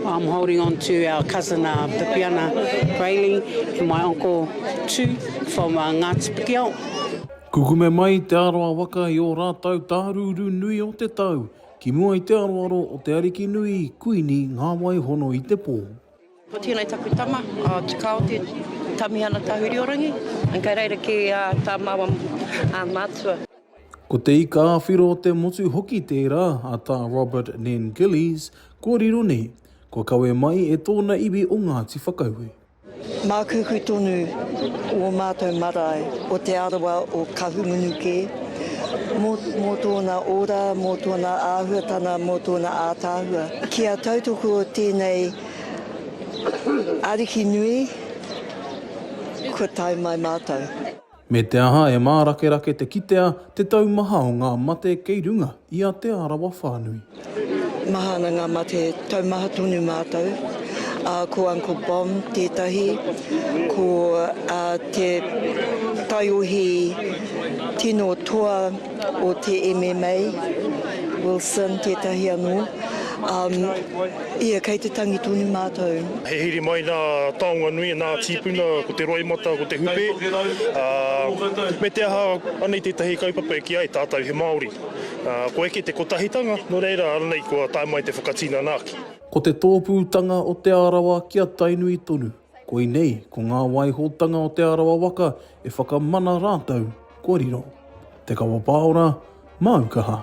I'm holding on to our cousin uh, Bipiana Rayleigh and my uncle Tu from uh, Ngāti Pikiao. Kukume mai te aroa waka i ō rātau tārūrū nui o te tau, ki mua i te aroaro o te ariki nui, Kuini Ngāwai Hono i te pō. Ko tēnei taku tama, uh, Tukao te Tamihana Tahuriorangi, and kei reira ki uh, tā māua uh, mātua. Ko Te Ika a Whiro te motu hoki tērā a Tā Robert Nen Gillies, kua riro nei, kua kawe mai e tōna iwi o Ngāti Whakaue. Mākuku tonu ō mātou marae o Te Arawa o Kahungunu kē, mō tōna ora, mō tōna āhuatana, mō tōna ātaahua. Kia tautoko tēnei Ariki nui, kua tae mai mātou. Me te aha e mārakerake te kitea te taumaha o ngā mate kei runga i a Te Arawa whānui. Maha ana ngā mate taumaha tonu mātou, ā, ko Uncle Bomb tētahi, ko te taiohi tino toa, o te MMA, Wilson tētahi anō, um, ia kei te tangi tonu mātou. He hiri mai nā taonga nui, nā tīpuna, ko te roimata, ko te hupe, uh, me te aha, anei tētahi kaupapa e ki ai tātou he Māori. Uh, ko eke te kotahitanga, no reira, anei kua tae mai te whakatinana ake. Ko te tōpūtanga o Te Arawa ki a Tainui tonu. Koinei, ko ngā waihotanga o Te Arawa waka e whakamana rātou kua riro. Te Kawa Pāora, Māu kaha.